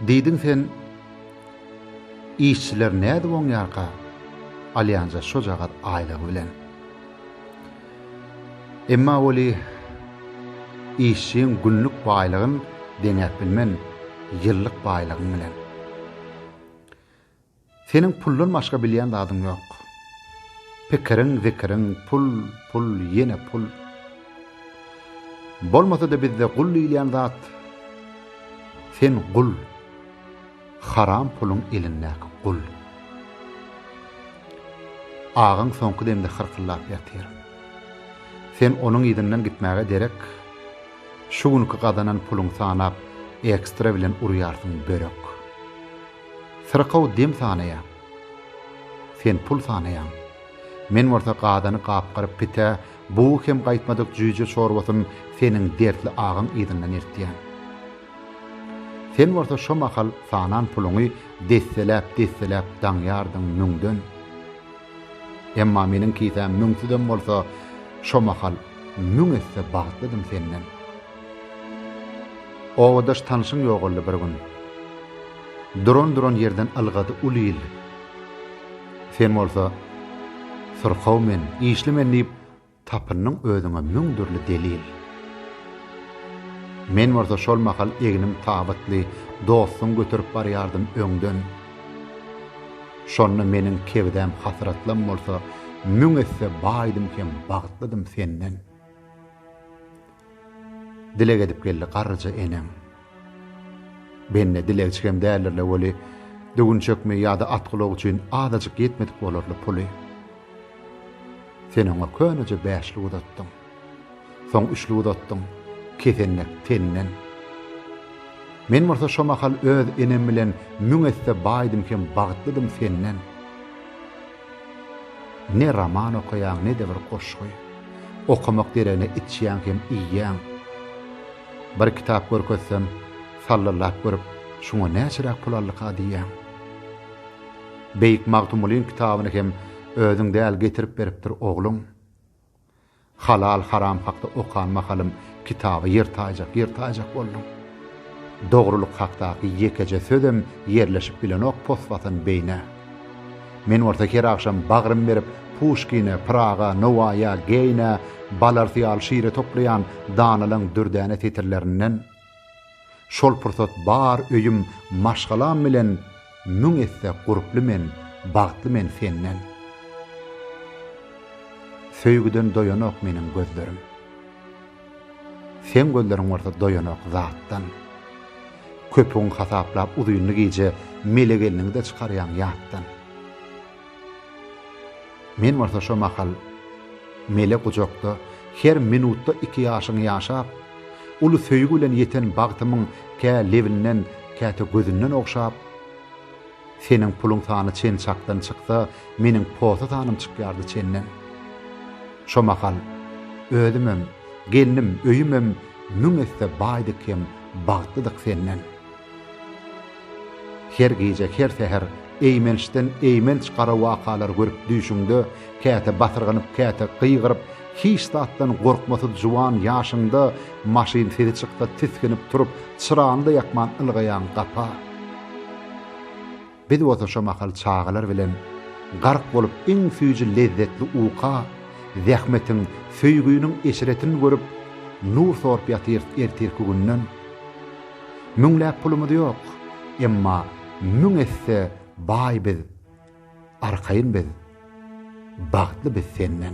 Diýdiň sen, Işçiler nädip oňýarka, alýanja şojagaz aýlygy bilen. Emma weli, işçiň günlük baýlygyn deňäp bilmen ýyllyk baýlygyň bilen. Seniň puldan başga bilýän zadyň ýok. Pikiriň, zikiriň, pul, pul, ýene pul. Bolmasa-da bizde gul diýilýän zat, sen gul. Haram puluň elindäki gul. Agaň soňky demde hyrkyllap ýatyr. Sen onuň yzyndan gitmäge derek, şu günki gazanan puluňy sanap, ekstra bilen urýarsyň börek. Syrkaw dem sanaýar. Sen pul sanaýaň. Men bolsa gazany gapgyryp pitä, bugy hem gaýtmadyk jüýje çorbasyn seniň dertli agaň yzyndan eltýän. Sen bolsa şo mahal sanan puluňy desseläp-desseläp daňýardyň müňden. Emma meniň kisäm müňsüzem bolsa, şo mahal müň esse bagtlydym senden. Obadaş tanşym ýogaldy bir gün. Duran-duran ýerden ylgady uly il. Sen bolsa, Syrkaw men, işli men diýip, tapyndyň özüňe müň dürli delil. Men bolsa şol mahal egnim tabytly dostuň göterip barýardym öňden. Şonda meniň kebidäm hasratlam bolsa, müň esse baýdym hem bagtlydym senden. Dileg edip geldi garryja eneň. Bende dilegçigem däldir-le weli, düwünçekmi ýa-da atgulak üçin azajyk ýetmedik bolarly puly. Sen oňa köneje bäşlik uzatdyň. Soň üçlik uzatdyň, kesenek tenden. Men bolsa şo mahal öz enem bilen müň esse baýdym hem bagtlydym senden. Ne roman okaýaň, ne-de bir goşgy. Okamak deregine içýäň hem iýýäň. Bir kitap görkezsem, sallylap görüp, şuňa näçeräk pul aldyka diýýäň. Beýik Magtymgulyň kitabyny hem özüň däl getirip beripdir ogluň. Halal haram hakda okan mahalym kitaby ýer taýjak ýer taýjak boldum. Dogrulyk hakdaky ýekeje sözem ýerleşip bilenok poswatan beýnä. Men bolsa her agşam bagrym berip Puşkine, Pyraga, Nowaýa, Geýne, Balarty ýaly şire toplaýan danalyň dürdäne setirlerinden, Şol pursat bar öýüm maşgalam bilen müň esse gurply men bagtly men senden Söýgüden doýanok meniň gözlerim Seň gözleriň bolsa doýanok zatdan Köpügiň hasaplap uzynly gije mele gelniňde çykarýaň ýatdan. Men bolsa şo mahal mele gujakda her minutda iki ýaşyňy ýaşap, uly söýgi bilen ýeten bagtymyň kä lebinden, käte gözünden ogşap, Seniň puluň sany çen çakdan çyksa, meniň posa sanym çykýardy çenden. Şo mahal özümem, gelnim, öýümem müň esse baýdyk hem bagtlydyk senden. Her gije, her säher eýmençden eýmenç gara wakalar görüp düýşüňde, käte basyrganyp, käte gygyryp, hiç zatdan gorkmasyz juwan ýaşyňda maşyn sesi çyksa tisginip turup, çyrany-da ýakman ylgaýaň gapa. Biz bolsa şo mahal çagalar bilen gark bolup iň süýji lezzetli uka, zähmetiň, söýgüniň eşretini görüp, nur sorup ýatyrys ertirki günden. Müňläp pulumyz ýok, emma müň esse baý biz, arkaýyn biz, bagtly biz senden.